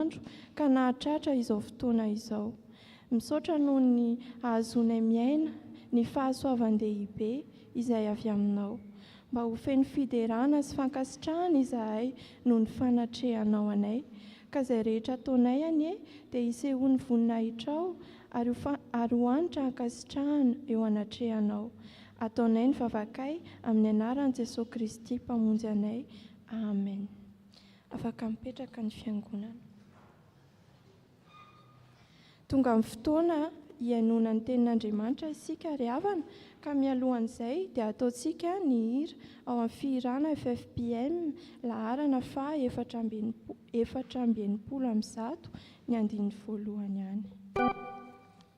isan'andro ka nahatratra izao fotoana izao. Misaotra noho ny ahazoanay miaina ny fahasoavan-dehibe izay avy Aminao. Mba ho feno fiderana sy fankasitrahana izahay noho ny fanatrehanao anay, ka izay rehetra ataonay anie dia hisehoan'ny voninahitrao ary ho ary ho hanitra hankasitrahana eo anatrehanao. Ataonay ny vavakay amin'ny anaran'i Jesoa Kristy Mpamonjy anay. Amen. Afaka mipetraka ny Fiangonana. Tonga ny fotoana hihainoana ny Tenin'Andriamanitra isika ry havana, ka mialohan'izay dia ataontsika ny hira ao amin'ny fihirana FFPM laharana faha efatra amby enimpolo, efatra amby enimpolo amby zato, ny andininy voalohany any.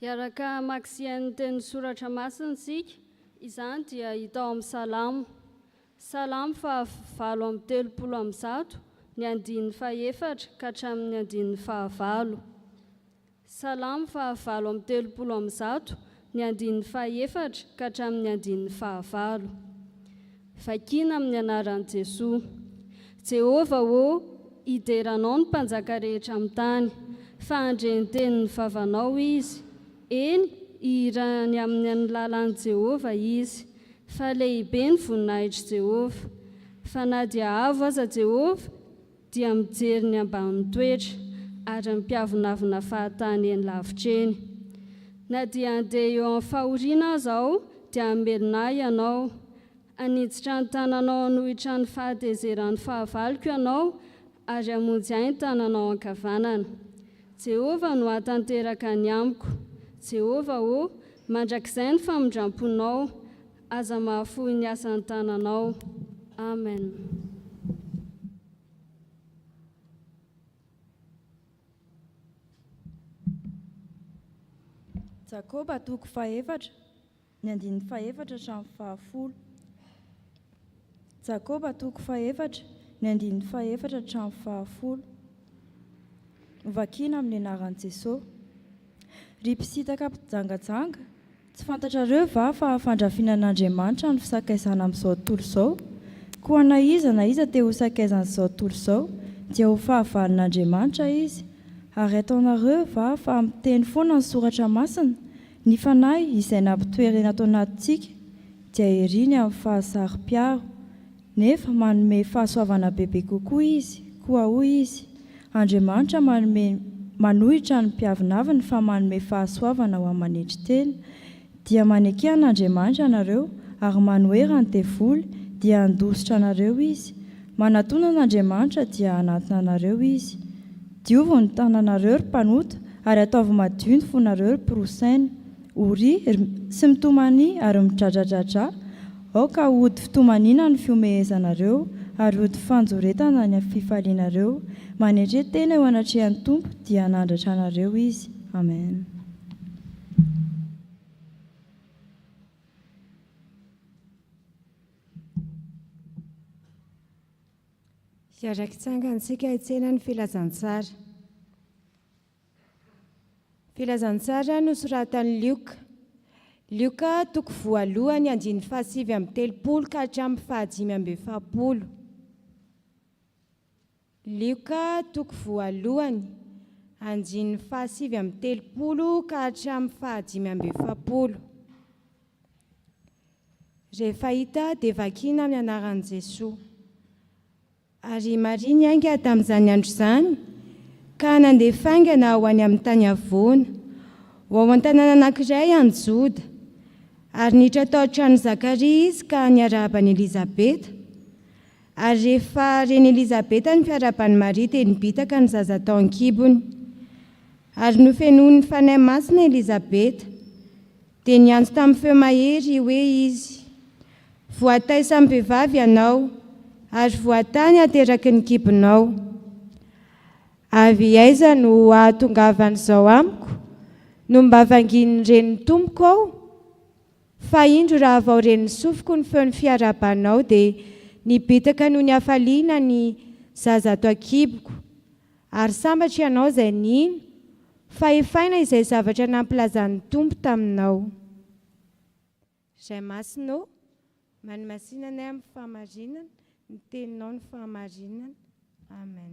Hiaraka hamaksian' ny Teninsoratra Masina isika, izany dia hita ao amin' ny Salamo. Salamo faha valo amby telopolo amby zato, ny andininy fahefatra ka hatramin' ny andininy fahavalo. Salamo faha valo amby telopolo amby zato, ny andininy fahefatra ka hatramin' ny andininy fahavalo. Vakina amin'ny anaran'i Jesoa. Jehovah ô, hidera Anao ny mpanjaka rehetra amin'ny tany, fa handre ny tenin'ny vavanao izy. Eny, hihirany amin'ny an'ny lalan'i Jehovah izy, fa lehibe ny voninahitr'i Jehovah. Fa na dia avo aza Jehovah, dia mijery ny ambany toetra ary mpiavonavona fahatany eny lavitra eny. Na dia handeha eo amin'ny fahoriana aza aho dia hamelona ahy ianao. Haniditra ny tananao hanohitra ny fahatezeran'ny fahavaloko ianao ary hamonjy ahy ny tananao ankavanana. Jehovah no hahatanteraka ny amiko. Jehovah ô, mandrakizay ny famindram-ponao Aza mahafoy ny asan tananao. Amen. Jakoba toko fahefatra, ny andininy fahefatra hatramin'ny fahafolo. Jakoba toko fahefatra, ny andininy fahefatra hatramin'ny fahafolo. Novakina amin'ny anaran'i Jesoa. Ry mpisintaka mpijangajanga, Tsy fantatrareo va fa fandrafinan'Andriamanitra ny fisakaizana amin'izao tontolo izao? Koa na iza na iza te ho sakaizan'izao tontolo izao, dia ho fahavalon'Andriamanitra izy. Ary ataonareo va fa miteny foana ny Soratra Masina? Ny Fanahy izay nampitoerena ato anatintsika dia iriny amin'ny fahasaro-piaro. Nefa manome fahasoavana bebe kokoa Izy, koa hoy Izy, Andriamanitra manome, manohitra ny mpiavonavony fa manome fahasoavana ho aman'hetry tena. Dia maneke an'Andriamanitra ianareo, ary manohera ny devoly, dia handositra anareo izy. Manatona an'Andriamanitra, dia hanatona anareo Izy. Diovy ny tananareo, ry mpanota, ary ataovy madio ny fonareo, ry mpirosaina. O ry ry sy mitomany ary midradradradra, aoka hody fitomaniana ny fihomehezanareo ary hody fanjoretana ny fifalianareo, manetre tena eo anatrehan'ny Tompo dia hanandratra anareo Izy. Amen. Hiara-kitsangana isika hitsena ny filazantsara. Filazantsara nosoratan'i Lioka. Lioka, toko voalohany, andininy fahasivy amby telopolo ka hatramin'ny fahadimy amby efapolo. Lioka, toko voalohany, andininy fahasivy amby telopolo ka hatramin'ny fahadimy amby efapolo. Rehefa hita dia vakina ny anaran'i Jesoa. Ary Maria niainga tamin'izany andro izany ka nandeha faingana ho any amin'ny tany havoana, ho ao an-tanàna anankiray any Joda. Ary niditra tao an-tranon'i Zakaria izy ka niarahaba an'i Elizabeta. Ary rehefa ren'i Elizabeta ny fiarahaban'i Maria dia nibitaka ny zaza tao an-kibony. Ary nofenoin'ny Fanahy Masina Elizabeta, Dia niantso tamin'ny feo mahery hoe izy, Voataisamim-behivavy ianao, ary voatany ateraky ny kibonao. Avy aiza no ahatongavan'izao amiko? Nomba vangin'ny renin'ny tompoko aho? Fa indro raha vao ren'ny sofiko ny feon'ny fiarahabanao, dia nibitaka noho ny hafaliana ny zaza ato an-kiboko, Ary sambatra ianao izay nino, fa hefaina izay zavatra nampilazan'ny Tompo taminao. Ray Masina ô, manimasina anay amin'ny fahamarinana, ny Teninao no fahamarinana. Amen.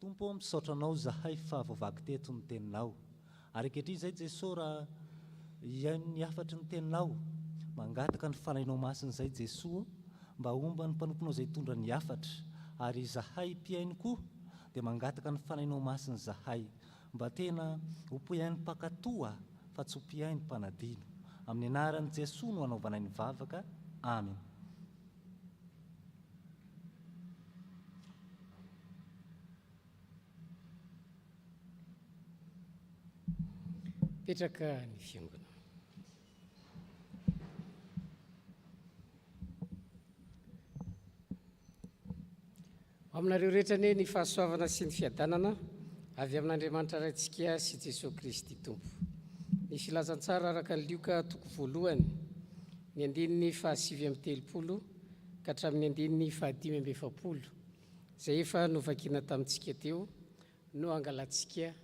Tompo ô misaotra anao izahay fa voavaky teto ny teninao ary ankehitriny izay Jeso raha hihaino ny hafatry ny teninao mangataka ny fanahinao masina izay Jeso ô mba homba ny mpanomponao izay hitondra ny hafatra ary izahay mpihaino koa dia mangataka ny fanahinao masina izahay mba tena ho mpihaino mpankatò a fa tsy ho mpihaino mpanadino amin'ny anaran'i Jeso no hanaovanay ny vavaka Amen. Mipetraka ny fiangonana. Ho aminareo rehetra anie ny fahasoavana sy ny fiadanana avy amin'Andriamanitra Raintsika sy Jesoa Kristy Tompo. Ny Filazantsara araka an'i Lioka toko voalohany, ny andininy fahasivy amby telopolo ka hatramin'ny andininy fahadimy amby efapolo, izay efa novakina tamintsika teo, no hangalantsika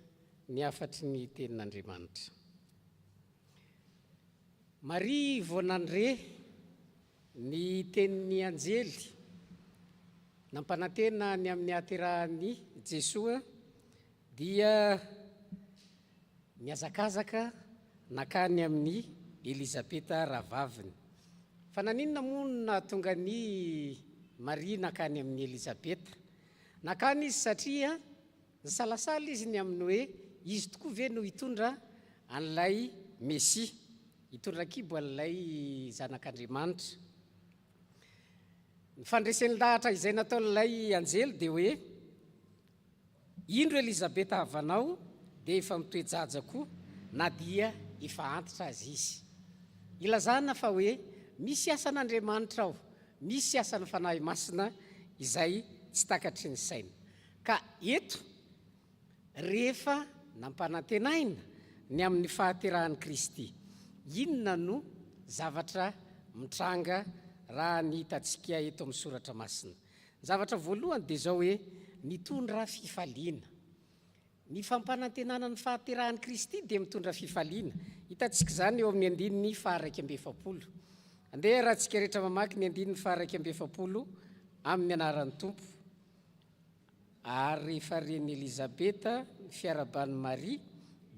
ny hafatry ny Tenin'Andriamanitra. Maria vao nandre. Ny tenin'ny anjely nampanantena ny amin'ny hahaterahan'i Jesoa dia nihazakazaka nankany amin'i Elizabeta rahavaviny. Fa naninona moa no nahatonga an'i Maria nankany amin'i Elizabeta? Nankany izy satria Nisalasala izy ny amin'ny hoe izy tokoa ve no hitondra an'ilay Mesia, hitondra an-kibo an'ilay Zanak'Andriamanitra. Ny fandresen-dahatra izay nataon'ilay anjely dia hoe, Indro Elizabeta havanao dia efa mitoe-jaja koa na dia efa antitra aza izy. Ilazana fa hoe misy asan'Andriamanitra ao, misy asan'ny Fanahy Masina izay tsy takatry ny saina. Ka eto, rehefa nampanantenaina ny amin'ny fahaterahan'i Kristy, inona no zavatra mitranga raha ny hitantsika eto amin'ny soratra masina? Ny zavatra voalohany dia izao hoe, mitondra fifaliana. Ny fampanantenana ny fahaterahan'i Kristy dia mitondra fifaliana. Hitantsika izany eo amin'ny andininy faha-iraika amby efapolo. Andeha arahantsika rehetra mamaky ny andininy faha-iraika amby efapolo amin'ny anaran'ny Tompo. Ary rehefa ren'i Elizabeta ny fiaraban'i Maria,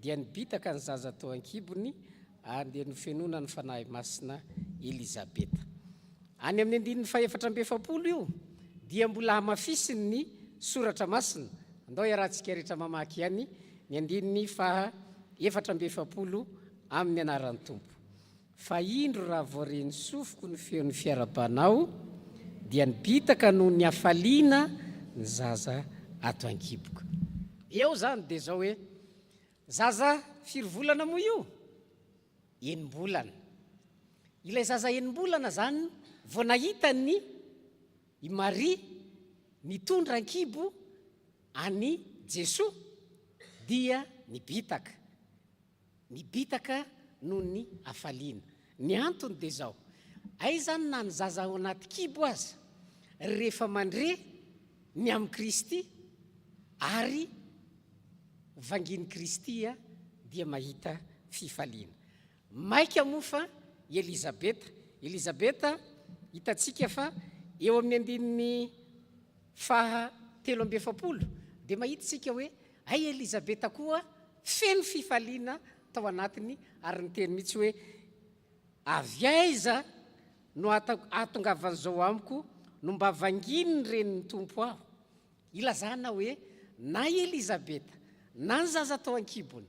dia nibitaka ny zaza tao an-kibony, ary dia nofenoina ny Fanahy Masina i Elizabeta. Any amin'ny andininy fahefatra amby efapolo io dia mbola hamafisiny ny Soratra Masina. Andao iarahantsika rehetra mamaky ihany ny andininy faha efatra amby efapolo amin'ny anaran'ny Tompo. Fa indro raha vao re ny sofiko ny feon'ny fiarabanao dia nibitaka noho ny hafaliana ny zaza ato an-kiboko. Eo izany dia izao hoe, zaza firy volana moa io? Enim-bolana. Ilay zaza enim-bolana izany vao nahita an'i i Maria nitondra an-kibo an'i Jesoa dia nibitaka. Nibitaka noho ny hafaliana. Ny antony dia izao, hay izany na ny zaza ao anaty kibo aza, rehefa mandre ny amin'i Kristy ary vangin'i Kristy dia mahita fifaliana. Maika moa fa i Elizabeta, Elizabeta hitantsika fa eo amin'ny andininy faha telo amby efapolo dia mahita isika hoe, Hay Elizabeta koa feno fifaliana tao anatiny ary niteny mihitsy hoe, Avy aiza no ahatongavan'izao amiko no mba vanginin'ny renin'ny Tompo aho? Ilazana hoe na i Elizabeta na ny zaza tao an-kibony,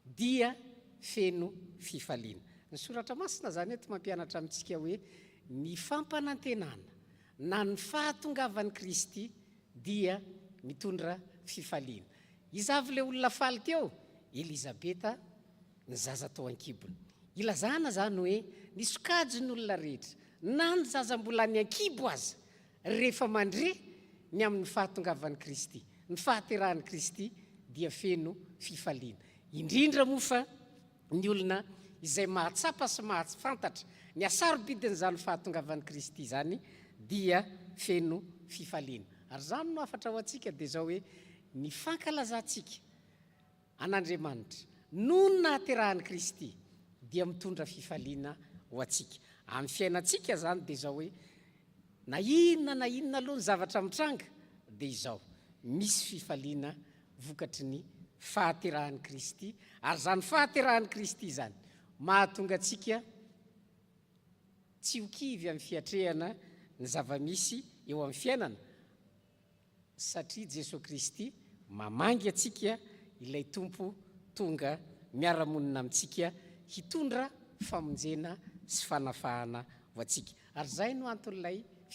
Dia feno fifaliana. Ny Soratra Masina izany eto mampianatra amintsika hoe ny fampanantenana na ny fahatongavan'i Kristy dia mitondra fifaliana. Iza avy ilay olona faly teo? Elizabeta, ny zaza tao an-kibony. Ilazana izany hoe ny sokajin'olona rehetra, na ny zaza mbola any an-kibo aza, Rehefa mandre ny amin'ny fahatongavan'i Kristy, ny fahaterahan'i Kristy dia feno fifaliana. Indrindra moa fa ny olona izay mahatsapa sy mahafantatra ny hasarobidin'izany fahatongavan'i Kristy izany dia feno fifaliana. Ary izany no hafatra ho antsika dia izao hoe, ny fankalazantsika, an'Andriamanitra noho ny nahaterahan'i Kristy dia mitondra fifaliana ho antsika amin'ny fiainantsika izany dia izao hoe na inona na inona aloha ny zavatra mitranga dia izao misy fifaliana vokatry ny fahaterahan'i Kristy ary izany fahaterahan'i Kristy izany mahatonga antsika tsy ho kivy amin'ny fiatrehana ny zava-misy eo amin'ny fiainana Satria Jesoa Kristy mamangy antsika ilay Tompo tonga miara-monina amintsika hitondra famonjena sy fanafahana ho antsika. Ary izay no anton'ilay.